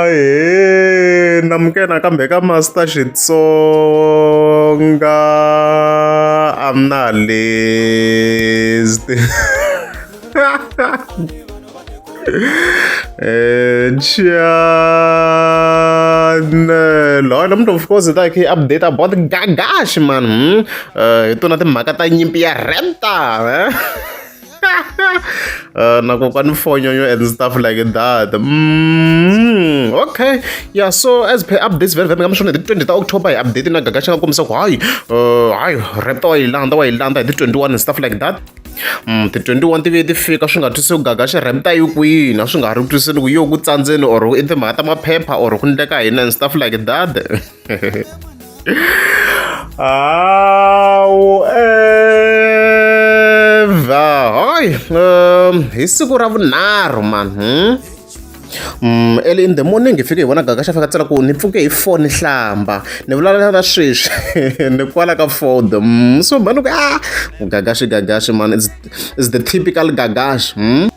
ahe namukena kambe ka master xitsonga i'm not list and chanelo and mntu of course ta khe update about gagashi man hi tona timhaka ta nyimpi ya renta uh, na kokwani fonyonyo and stuff like that mm, okay yeah so as per updates very very nga mishona hi ti 20 ta october hi update na gaga xi nga kombisa ku hayi uh, hayi rap ta wa yi landa wa yi landa hi ti 21 and stuff like that mm, ti 21 ti vuye ti fika swi nga twisi ku gaga xi rap ta yi kwini a swi nga ha ri twisini ku yo ku tsandzeni or i timhaka ta maphepha or ku ndleka hina and stuff like that hoy um, hi siku ra vunharhu mani hmm? Mm, early in the morning hi fike hi vona gaga xa fika tsela ku ni pfuke hi four ni hlamba ni vulavula na sweswi ni kwala ka ford mm, so mhani ku a ah, gagaxi gagaxi man is the typical gagaxi mm?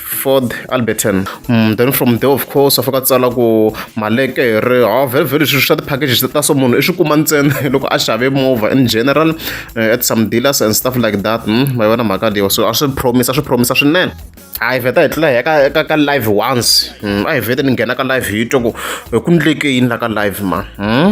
ford alberton mm, then from there of course a fika tsala ku malekere ha vhelevhele swilo swa ti-packages ta so munhu i swi kuma ntsena loko a xave movha in general uh, at some dealers and stuff like that mm, ma yona mhaka leyo so a swi promise a swi promise swinene hayi vheta hi tlula hi ka, ka, ka live once mm, a hi vhete ni nghena ka live hi twa ku ku ndleke yini la ka live ma mm?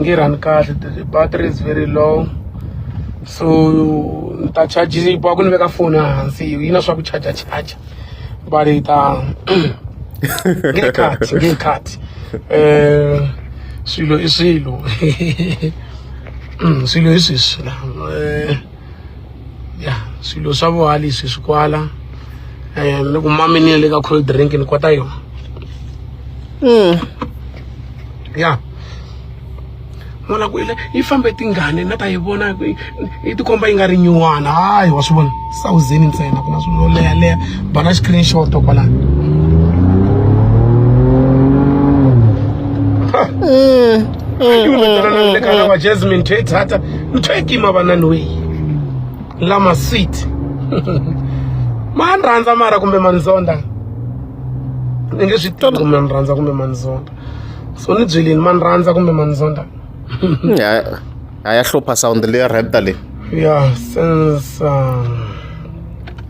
nge run kahle battery is very low so ni ta charge yi boha ku ni veka foni hansi yi na swa ku charger charger but yi ta nge cut nge cut eh swilo i swilo swilo i sweswi la eh ya swilo swa vuhali swi swi kwala um ni ku mami ni le ka cold drink ni kota yona mm. ya n'wana ku ile yi fambe tingane na ta yi vona yi tikomba yi nga ri nyuwana hayi wa swi vona sawuzeni ntsena ku na swilo leha leha bana screenshot kwalani mm. mm. mm. mm. mm. ntho e kima vanani weyi lama sweet ma ni rhandza mara kumbe manzonda ni nge swi tivi kumbe ni rhandza kumbe manzonda so ni byelini ma ni rhandza kumbe manzonda a ya hlupha sound leya rheta leyi ya since um,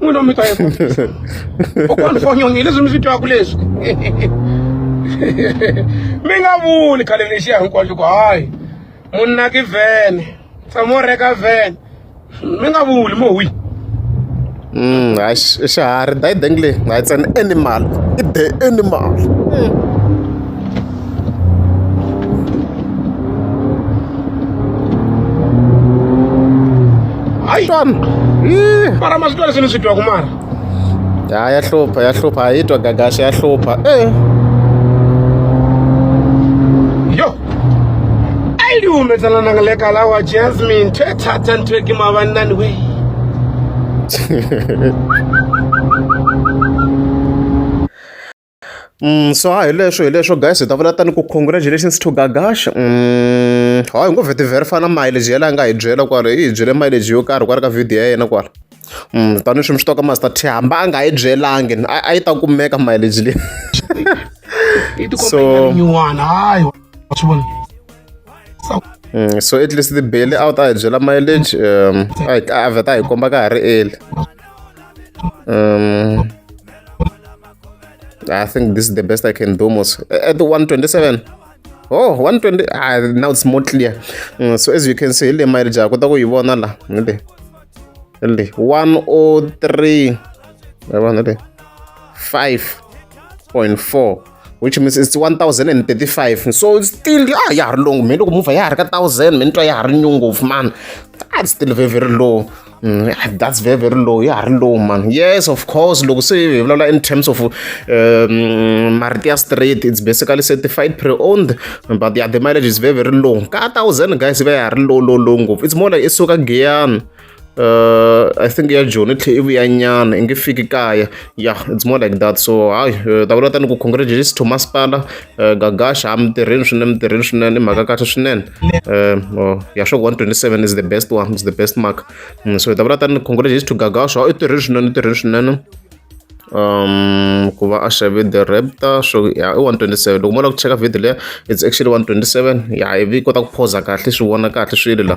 n'wini wa mito kokwani fonyongi leswi mi swi twaku leswi mi nga vuli khale lexiya hinkwaxo ku hayi munna ki vhene tshamo reka vhene mi nga vuli mo wi Mm, hayi xiharhi dayideng leyi hayi tsena animal i the animal mm. hayi xana mara ma swi twa leswi ni swi twaku mara ya ya hlupha ya hlupha a yi twa gagaxa ya hlupha e yo a yi liwumetsana nanga le kala wa jasmine ntho e thatha ntho e ke mavannani we Mm, so ha hi leswo hi leswo guys hi ta vula tani ku congratulations to gagash mm, ha hi ngo vheti verify na mileage yela a nga hi byela kwala i hi byele mileage yo karhi kwala ka video ya yena kwala mm, tani swimi swi toka master t hamba a nga hi byelangi a yi ta kumeka mileage leyi so Mm, so at least the bail out a hi byela mileage um a vheta a hi komba ka ha ri eli um I think this is the best I can do most. At the 127. Oh, 120. Ah, now it's more clear. Mm, so as you can see, ile mile ja kota ku yi vona la. Ile. Ile 103. Yabona le. 5.4 which means it's 1035 so it's still ah ya ha ri long me loko movha ya ha ri ka 1000 me ni twa ya ha ri nyungu man that's still very very low Mm, that's very very low ya ha ri low man yes of course loko se hi vulavula in terms of um, marito ya straight it's basically certified pre-owned but yeah, the mileage is very very low ka thousand guys va ya ha ri low low low ngopfu it's more like i suka giyana uh, I think ya Joni tlhe ivi ya nyana i nge fiki kaya yeah it's more like that so hayi uh, ta vulata ni ku congratulations to masipala eh, gagasha a mintirheni swinene mintirheni swinene i mhaka kahle swinene eh, oh, ya sure 127 is the best one is the best mark mm, so hi ta vula tani congratulations to gagasha i tirheni swinene i tirheni swinene um ku va a xave the raptor so ya i 127 loko mo lava ku cheka video leya it's actually 127 ya ivi yi kota ku phoza kahle swi vona kahle swilo la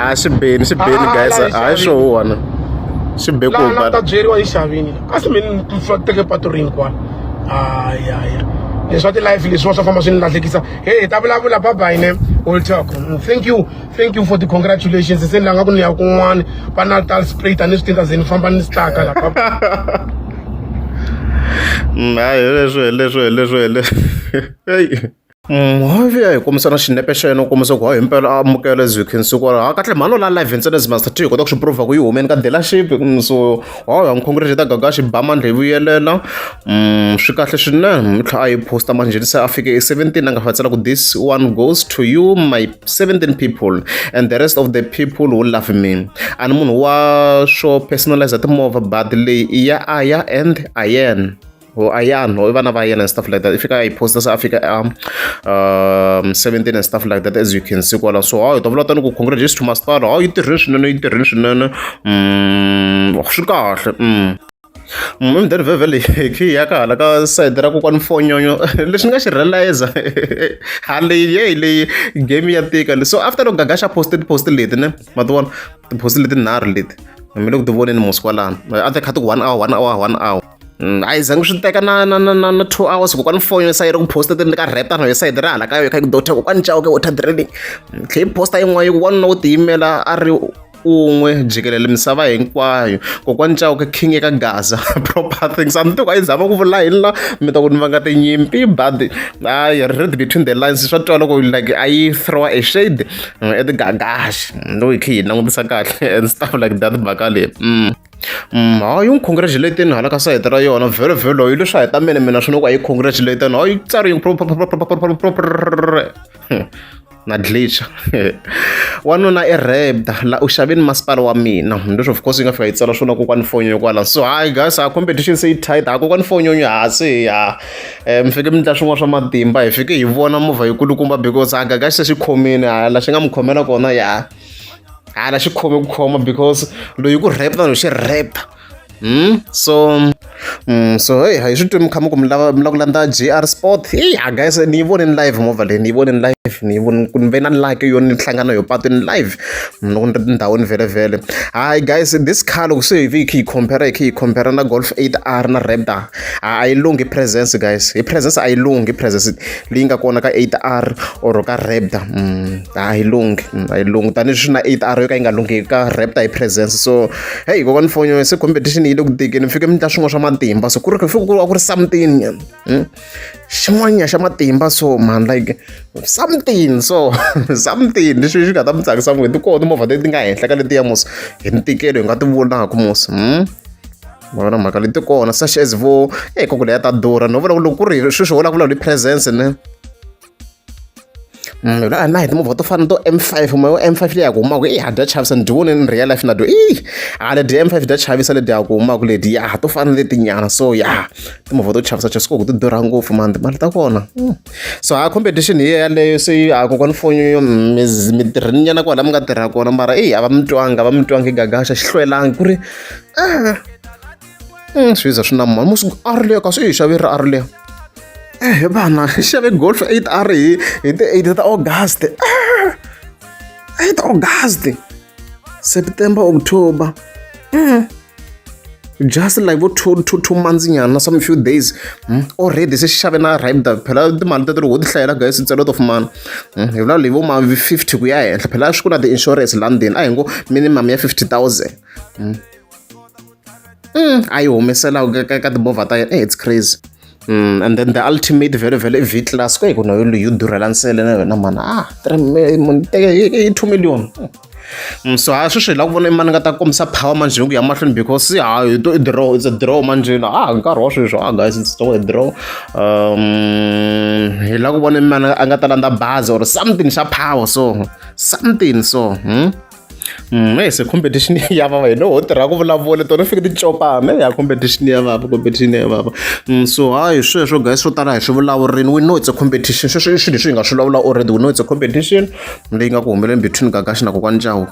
a swi beni swi beni ah, guys hayi swo huwana swi be ku ba ta byeriwa hi xavini a swi meni teke patu ri hinkwana aya ya leswi wa ti-life leswiwa swa famba swi ni lahlekisa he hi ta vulavula babayine will talk mm, thank you thank you for the congratulations se ni langa ku ni ya kun'wana va natal spray tanihi swi tinta ze ni famba ni swi tlaka la mm, hayi leswo leswo leswo leswo hi kombisa na xinepe xa yena u kombisa ku hayi himpela a amukela as you can see kwala ha kahle mhani la live ntsena as master t hi kota ku swi prova ku yi humeni ka dealership mm, so hayi ha n'wi ta gagaxi ba mandla yi vuyelela mm, swi kahle swinene tlha a yi posta manjheni se a fike i 17 a nga fatsela ku this one goes to you my 17 people and the rest of the people who love me a ni munhu wa swo personalize timovha but leyi i ya aya and ayen or Ayan or even Ayan and stuff like that. If you can post this Africa um, um 17 and stuff like that as you can see. Well, so I don't want to congratulate to master. Oh, international, international. Mm, oh, sugar. Mm. mdari vhevhele khi ya ka hala ka side ra kokwani fonyonyo lexi ni nga xi realize haleyi yeyi leyi game ya tika so after loko gaga xa poste tiposte leti ne ma ti vona tiposte leti nharhu leti mi le ku ti voneni musi kwalano a ti kha ti one hour one hour one hour Mm, a yi zangi swi teka na na na na na two hours kokwani foni yo sayiri ku posta ti ni ka rheta na yo sayidi ra hala ka yo kha ku dota kokwani cawuke water draining mm, tlhe yi posta yin'wana yi wanuna wo tiyimela a ri un'we jikelele misava hinkwayo kokwani cawuke king eka gaza proper things a ni tiku a yi zama ku vula yini la mi ta ku ni va nga tinyimpi but i read between the lines swa twa loko like a yi throw a shade mm, at gash loyi khe yi langutisa kahle and stuff like that baka leyi hayi u n'wi congratulate-ni hala ka sayiti ra yona vhelo vhelo yi leswi a hi ta mina mina swi ni ku a yi congratulate-ni hayi tsari yi na glitcha wanuna i rebda la u xaveni masipala wa mina leswi of course yi nga fika yi tsala swona kokwani fonyonyo kwala so hayi guys a competition se yi tight ha kokwani fonyonyo ha se ya um fike mi ndla swin'wana swa matimba hi fike hi vona movha yi kulukumba because a gaga xi se xi khomile hala xi nga mi khomela kona ya hala xi khome ku khoma because loyi ku rap na loyi xi rap hmm? so mm, so hey hi swi twi mi kha mi ku mi lava mi lava ku landza gr sport hey ha guys ni yi voneni live movha leyi ni yi voneni live ni yi voni ku ni ve na like yo ni hlangana yo patwini live mm, loko ni ri tindhawini vhelevhele hi guys this car loko se hi vi hi kha hi compare hi kha hi compare na golf 8 r na raptor a yi lunghi presence guys hi presence a yi lunghi presence leyi nga kona ka 8 r or ka raptor mm. a yi lunghi a yi lunghi tanihileswi na eight hour yo ka yi nga lunghi ka rap ta yi presence so heyi kokwani fonyo se competition yi le ku tikeni mi fike mi endla swin'wana swa matimba so ku ri fike ku va ku ri something hmm? xin'wanya xa matimba so man like something so something leswi swi nga ta mi tsakisa n'we ti kona timovha leti nga henhla ka letiya mos hi ntikelo hi nga ti vonaka mos hmm? vona mhaka leti kona such as vo eyi kokule ya ta durha no vona ku loko ku ri sweswi ho vulavula hi presence ne Mm, na na hi timovha to fana to m five moya wa m five leyi ya ku humaka i ha dya chavisa ni dyi vone ni real life na dyo i a ledi m five dya chavisa ledi ya ku humaka ledi ya to fana letinyana so ya timovha to chavisa chavisa koku ti durha ngopfu mani timali ta kona mm. so ha competition hi yeleyo se a kokwani fonyo mm, mi tirhini nyana kwala mi nga tirha kona mara i a va mi twanga a va mi twanga i gagaxa xi hlwelangi ku ri ah Mm, swi za swi na mali musi a ri leyo ka swi yi xave ri a ri leyo ehe vana xave golf eight a ri hi hi ti eight ta august ah! eight august september october mm. just like vo two two two months nyana some few days mm. already se xave na ribda phela timali ta ti ri ho ti hlayela guys ntselo to fumana mm. hi vula leyi vo ma fifty ku ya henhla phela swi ku na ti-insurance london a hi ngo minimum ya fifty thousand mm. mm, a yi humesela ka ka timovha ta yena eh, it's crazy Mm, and then the ultimate vhele vhele i v class ko hi ku na yolo yo durhela nsele na yona mani ah i two million mm, so ha sweswi hi lava ku vona imani nga ta kombisa power manjhe ku ya mahlweni because ha hi to i draw it's a draw manjhe na ah nkarhi wa sweswi ah guys it's still a draw um hi lava ku vona imani a nga ta landza bazi or something xa power so something so hmm? Mm, hey, se competition ya vava hi loho tirha ku vulavula tona fike ticopana ya competition ya vava competition ya vava mm, so hayi sweswo guys swo tala hi swi vulavurini we know it's a competition sweswo i swilo leswi hi nga swi vulavula already we know it's a competition leyi nga ku humeleni between gagashi na kokwani jawu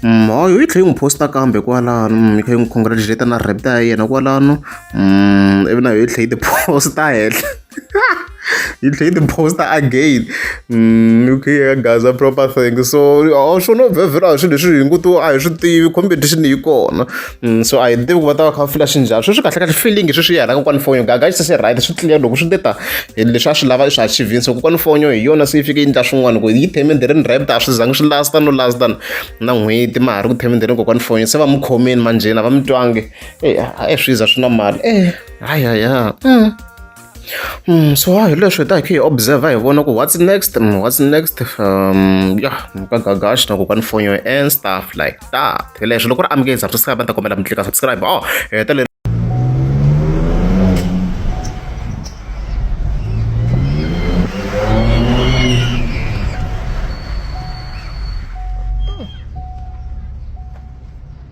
mm, hayi yi tlhe yi n'wi posta kambe kwalano mm, yi kha yi n'wi congratulata na repta ya yena kwalano ivi na yo yi tlhe yi tiposta henhla you play the poster again mm, okay guys a proper thing so a swi no vhevhela hi swilo leswi hi ngu to a hi swi tivi competition yi kona mm, so a hi tivi ku va ta va kha va fila xi njhani sweswi kahle kahle feeling sweswi yi halaka kwani fonyo gaga xi se right swi clear loko swi te ta hi leswi a swi lava i swi achivini so kokwani fonyo hi yona se yi fike yi ndla swin'wana ku yi themende ri ni rapt a swi zangi swi lasta no lasta na n'hweti ma ha ri ku themende ri kokwani fonyo se va mi khomeni manjheni a va mi twangi e eh, a swi za swi na mali e eh, hayaya mm. Mm, so hi leswi hi ta hi kha hi observer hi vona ku what's next mm, what's next um ya ka gagash na ku ka ni phone yo and stuff like that hi leswi loko ri amukeli subscribe ni ta kombela mi tlika subscribe oh heta le